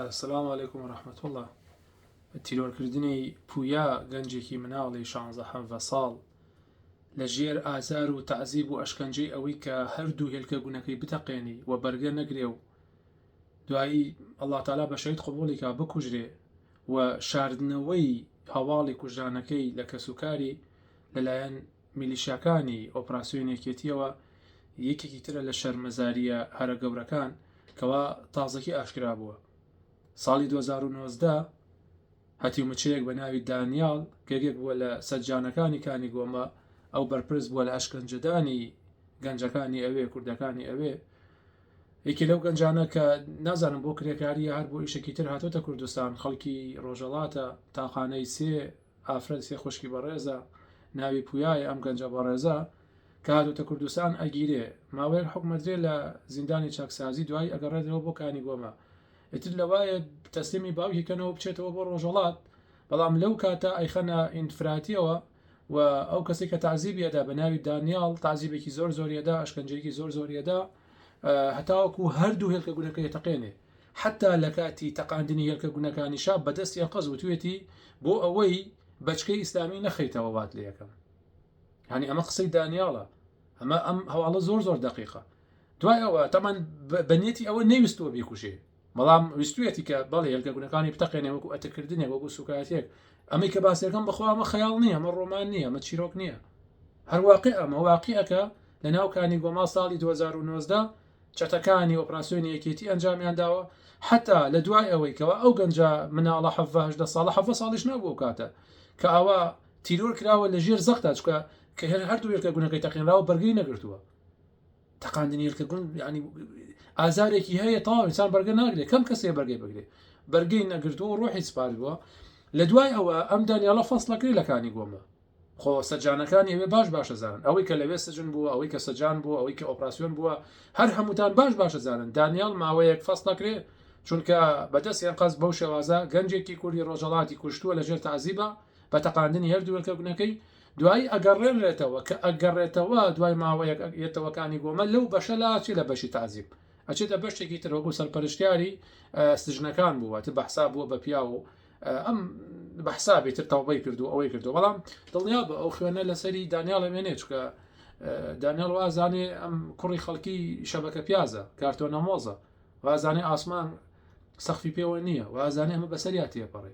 سلام علیکم و رحمت اللە تیرۆرکردنی پویا گەنجێکی مناڵی شانزە حەڤە ساڵ لە ژێر ئازار و تەعزیب و ئەشکەنجەی ئەوەی کە هەردوو هێلکە گونەکەی بتەقێنی و بەرگە نەگرێ و دوایی ئەڵا تالا بە شەید قوبولیکا بکوژرێ و شاردنەوەی هەواڵی کوژرانەکەی لە کەسوکاری لەلایەن میلیشیاکانی ئۆپراسیۆن یەکێتییەوە یەکێکی ترە لە شەرمەزارییە هەرە گەورەکان کەوا تازەکی ئاشکرا بووە. ساڵی دوو هەزار و نۆزدە هەتیومچەیەک بە ناوی دانیال گەگێک بووە لە سەجانەکانی کانی گۆمە ئەو بەرپرس بووە لە ئەشکەنجەدانی گەنجەکانی ئەوێ کوردەکانی ئەوێ یەکی لەو گەنجانە کە نازانم بۆ کرێکاریە هەر بۆ ئیشێکی تر هاتۆتە کوردستان خەڵکی ڕۆژەڵاتە تاقانەی سێ ئافرەت سێ خوشکی بەڕێزە ناوی پویایە ئەم گەنجە بەڕێزە کە هاتۆتە کوردستان ئەگیرێ ماوەیەک حکومە درێ لە زیندانی چاکسازی دوایی ئەگەڕێتەوە بۆ کانی گۆمە ئیتر لەوایە تەسلیمی باوکی کەنەوە بچێتەوە بۆ ڕۆژەڵات بەڵام لەو کاتە ئەیخەنە ئینفراتیەوە و ئەو کەسی کە تعزیبیەدا بە ناوی دانیال تعزیبێکی زۆر زۆریەدا ئەشکەنجەیەکی زۆر زۆریەدا هەتاوەکو هەردوو هێلکە گونەکەی تەقێنێ حتا لە کاتی تەقاندنی هێلکە گونەکانیشا بەدەستی ئەنقەز وتوێتی بۆ ئەوەی بەچکەی ئیسلامی نەخەیتەوە وات لە یەکەم هەنی ئەمە قسەی دانیاڵە ئەمە ئەم هەواڵە زۆر زۆر دقیقە دوای ئەوە تەمان بەنێتی ئەوە نەویستوە بیکوژێ بەڵام ویستویەتی کە بەڵ هێلکە گونەکانی بتەقێنێ وەکو ئەتەکردنێک وەکو سوکایەتێک ئەمەی کە باسیەکەم بەخوا ئەمە خەیاڵ نییە ئەمە ڕۆمان نییە ئەمە چیرۆک نییە هەرواقع ئەمە واقعەکە لە ناو کانی گۆما ساڵی 2009دا چەتەکانی ئۆپراسسیۆنی یەکێتی ئەنجامیان داوە حتا لە دوای ئەوەی کەەوە ئەو گەنجە مناڵە حەڤهدە ساڵە حەڤە ساڵیش نابوو کاتە کە ئەوە تیرۆر کراوە لە ژێر زەختا چکە کە هەر هەردوو وێلکە گونەکەی تەقینراوە بەرگی نەگرتووە تەقاندنی هێلکە گوند ینی ئازارێکی هەیە تاو ئینسان بەرگە ناگرێ کەم کەسێ بەرگەی بگرێ بەرگەی نەگرتو و ڕۆحی سپار بووە لە دوای ئەوە ئەم دانیاڵە فەصلەکەی لەکانی گۆمە خۆ سەجانەکان ئەوێ باش باشە زانن ئەوەی کە لەوێ سجن بووە ئەوەی کە سەجان بوو ئەوەی کە ئۆپراسسیۆن بووە هەر هەمووتان باش باشە زانن دانیال ماوەیەک فەست نەکرێ چونکە بەدەستیان قەز بەو شێوازە گەنجێکی کوردی ڕۆژەڵاتی کوشتووە لەژێر تازیبە بە تەقاندنی هەردووەکە گونەکەی دوایی ئەگەڕێنرێتەوە، کە ئەگەڕێتەوە دوای ماوەیەک یەتەوەکانی گۆمە لەو بەشە لا ئەچێ لە بەشی تەعزیب ئەچێتە بەشتێکی تر وەکو سەرپەرشتیاری سجنەکان بووە تر بەحساب بووە بە پیاو و ئەم بەحسابی تر تەوبەی کردو ئەوەی کردو بەڵام دڵنیا بە ئەو خوێنە لەسەری دانیاڵە مێنێ چکە دانیال وازانێ ئەم کوڕی خەڵکی شەبەکە پیازە کارتۆنە مۆزە وازانێ ئاسمان سەخفی پێوە نییە وازانێ ئەمە بەسەریا تێپەڕێ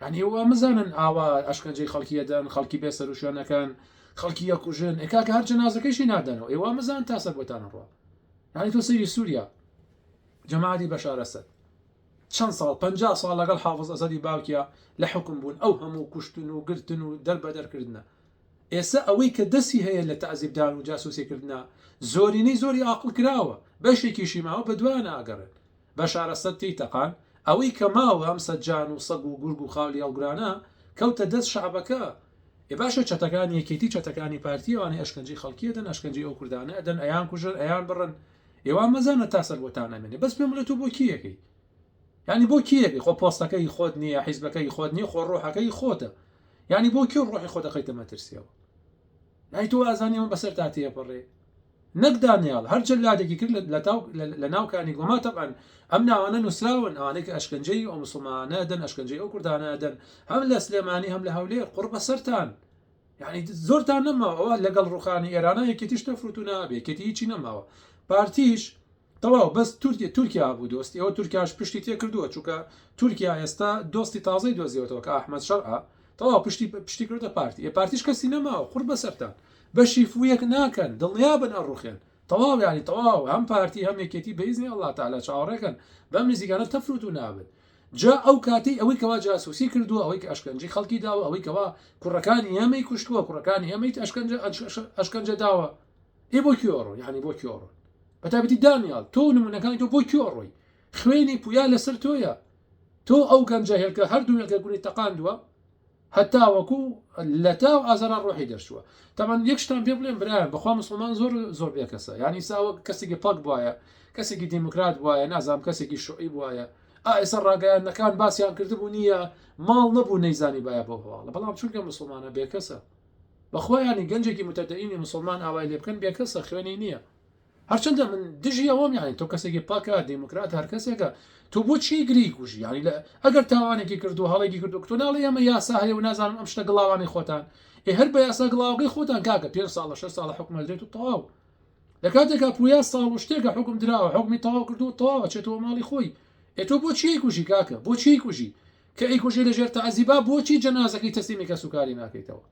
یانی ئەوە مزانن ئاوا ئەشکەنجەی خەڵکی ئەدەن خەڵکی بێ سەروشوێنەکان خەڵکی یەکوژن ئێکاکە هەر جەنازەکەشی نادەنەوە ئێوە مزان تا سەر بۆتانە ڕوە یانی تۆ سەری سووریا جەمادی بەشارەسەد چەند ساڵ پ ساڵ لەگەڵ حافظ ئەسەدی باوکیا لە حکم بوون ئەو هەموو کوشتن و گرتن و دەربەدەرکردە ئێستا ئەوەی کە دەسی هەیە لە تازیبدان و جاسوسیکردە زۆرینەی زۆری ئاقل کراوە بەشێکیشی ماوە بە دوایان ئاگەڕێت بەشارە سەگ تێی تەقان. ئەوەی کە ماوە ئەم سە جان و سەگ و گورگ و خاولی هەڵگرانە کەوتە دەست شەعبەکە. ئێ باشە چەتەکانی یەکێتی چەتەکانی پارتی ئەوانەی ئەشکەنجەی خەڵکی ئەدەن ئەشکەنجەی ئەو کوردانە ئەدەن ئەیان کوژن ئەیان بڕن ئێ وا مەزانە تا سەر بۆتان ئەمێنێ بەس پێم بڵێ تۆ بۆ کێ یەکەی یانی بۆ کێ یەکەی خۆ پۆستەکە هی خۆت نییە حیزبەکە هی خۆت نییە خۆ ڕۆحەکە هی خۆتە یانی بۆ کێ ڕۆحی خۆ دەخەیتە مەترسیەوە ئەی تۆ ئازانی ئەوە بەسەر تا تێپەڕێ نەک دانیال هەر جلادێکی کرد لە ناو کانی گۆما تەبەن ئەم ناوانە نووسراون ئەوانەی کە ئەشکنجەی ئەو مسلمانە دەن ئەشکنجەی ئەو کوردانە دەن هەم لە سلێمانی هەم لە هەولێر قڕ بەسەرتان یعنی زۆرتان نەماوە لەگەڵ ڕوخانی ئێرانە یەکێتیش تەفروتو نابێ کێتی هیچی نەماوە پارتیش تەواو بەس تورکیا تورکیا بوو دۆست ئێوە تورکیاش پشتی تێکردووە چونکە تورکیا ئێستا دۆستی تازەی دۆزیەوەتەوە کە ئەحمەد شەرعە تەواو پشتی پشتی کردە پارتی ئێ پارتیش کەسی نەماوە قڕ بەسەرتان بەشی فویەک ناکەن دڵنیابن ئەڕوخێن تەواو ینی تەواو هەم پارتی هەم یەکێتی بەیزنی ئەڵڵا تەعالا چاوەڕێکەن بەم نزیکانە تەفروت و نابن جا ئەو کاتەی ئەوەی کەوا جاسوسی کردووە ئەوەی کە ئەشکەنجەی خەڵکی داوە ئەوەی کەوا کوڕەکانی ئێمەی کوشتووە کوڕەکانی ئێمەی ئەشکەنجە ئەشکەنجە داوە ئێ بۆ کوێ ئەڕۆ یعنی بۆ کوێ ئەڕۆن بە تابەتی دانیال تۆ نمونونەکانی تۆ بۆ کوێ ئەڕۆی خوێنی پویا لەسەر تۆیە تۆ ئەو گەنجە هێلکە هەردوو هێلکە گولی تەقاندووە هەتا وەکو لە تا و ئازارا ڕۆحی دەرچووە تامان یەکشتان پێ بڵێن برایان بەخوا مسلمان زۆر زۆر بێ کەسە یعنی ساوە کەسێکی پاک بواە کەسێکی دیموکرات بواە نازام کەسێکی شوعی بواە ئائسە ڕاگەیانەکان باسییان کردبوو نییە ماڵ نەبوو نەیزانی باە بۆ هەواڵە بەڵام چونکە مسلمانە بێکەسە بەخوا یانی گەنجێکی متەدەینی موسڵمان ئاوای لێ بکەن بێکەسە خوێنی نییە هەرچەندە من دژی ئەوەم یانی تۆ کەسێکی پاکە دیموکرات هەر کەسێکە تۆ بۆ چی گری کوژی یانی لە ئەگەر تاوانێکی کردو هەڵێکی کردو کتۆ ناڵی ئەمە یاسا هەیە و نازانم ئەم شتە گڵاوانی خۆتان ئێ هەر بە یاسا گڵاوەکەی خۆتان کاکە پێ ساڵە شە ساڵە حکومە درێت و تەواو لە کاتێکا پویا ساڵ و شتێکە حکم دراوە حکمی تەواو کردو تەواوە چێتەوە ماڵی خۆی ئێ تۆ بۆ چی کوژی کاکە بۆ چی کوژی کە ئەیکوژی لە ژێر تەعزیبا بۆچی جەنازەکەی تەسلیمی کەسوکاری ناکەیتەوە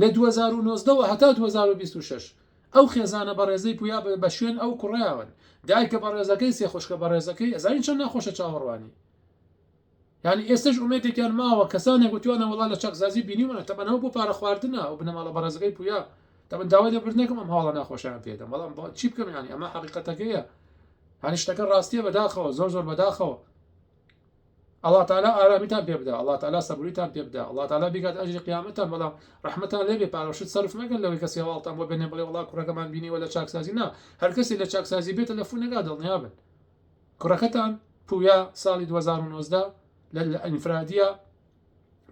لە دوو هەزار و نۆزدە وە هەتا دوو هەزار و بیست و شەش ئەو خێزانە بەڕێزەی پویا بە شوێن ئەو کوڕەیاون دایکە بەڕێزەکەی سێ خوشکە بەڕێزەکەی ئەزانی چەند ناخۆشە چاوەڕوانی یعنی ئێستش ئومێدێکیان ماوە کەسانێک وتوانە وڵا لە چەکزازی بینیمانە تەبەنەوە بۆ پارە خواردنە و بنەماڵە بەڕێزەکەی پویا تەبەن داوای لە بردنەکەم ئەم هاڵە ناخۆشیان پێدەم بەڵام چی بکەم ینی ئەمە حقیقەتەکەیە هەنیشتەکە ڕاستیە بەداخەوە زۆر زۆر بەداخەوە اللە تعالی ئارامیتان پێ بدا اللە تعالی سەبوریتان پێ بدا اللە تعالی بیکات ئەجری قیامەتتان بەڵام ڕەحمەتان لێ بێ پارەوشت سەرف مەکەن لەوەی کەس هێواڵتان بۆ بێنێ بڵێ وڵا کوڕەکەمان بینیوە لە چاکسازی نا هەر کەسی لە چاکسازی بێ تەلەفونەکە دڵنیا بن کوڕەکەتان پویا ساڵی 2009 لە ئینفرادیە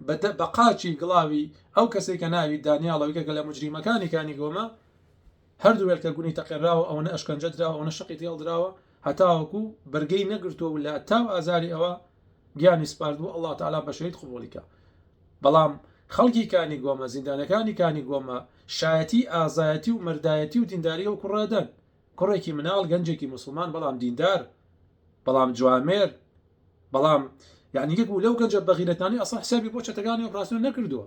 بەدە بە قاچی گڵاوی ئەو کەسێک کە ناوی دانیاڵەوەیکە کە لە مجریمەکانی کانی گۆمە هەردوو وێلکە گونی تەقێراوە ئەوەنە ئەشکەنجە دراوە ئەوەنە شقی تێڵدراوە هەتاوەکو بەرگەی نەگرتوە و لە تاو ئازاری ئەوە گیانی سپاردوە اللە تعالی بە شەهید قبوڵی کا بەڵام خەڵکی کانی گۆمە زیندانەکانی کانی گۆمە شایەتی ئازایەتی و مەردایەتی و دینداری ئەو کوڕە دەن کوڕێکی مناڵ گەنجێکی موسڵمان بەڵام دیندار بەڵام جوامێر بەڵام یعنی یەک بوو لەو گەنجە بەغیرەتانەی ئەسڵەن حسابی بۆ چەتەکانی ئۆپراسیۆن نەکردووە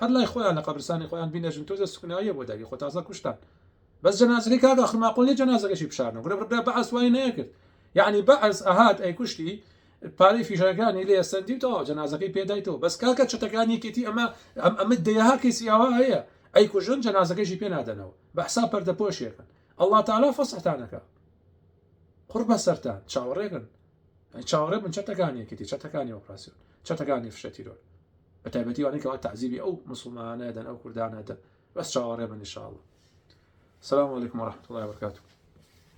هەر لای خۆیان لە قەبرسانی خۆیان بینێژن تۆزێ سوکناییە بۆ داوی خۆ تازە کوشتان بەس جەنازەکەی کاک ئاخر ماقۆڵ نیە جەنازەکەشی بشارنەوە گرە برا بەعس وای نەیەکرد یعنی بەعس ئەهات ئەیکوشتی پارەی فیشەکانی لێ سەندی و تەواو جەنازەکەی پێدایتەوە بەس کاکە چەتەکانی یەکێتی ئەمە ئەم ئەمە دەیەها کەسی ئەوە هەیە ئەی کوژن جەنازەکەشی پێ نادەنەوە بە حساب پەردە پۆشێکن الله تعالی فەسحتانەکە قڕ بەسەرتان چاوەڕێکن چاوەڕێ بن چەتەکانی یەکێتی چەتەکانی ئۆپراسیۆن چەتەکانی فشە تیرۆر بە تایبەتی وانەی کەوا تعزیبی ئەو مسلمانانە دەن ئەو کوردانە دەن بەس چاوەڕێ بن نیشاڵە سلام علیکم ورحمة الله وبرکاته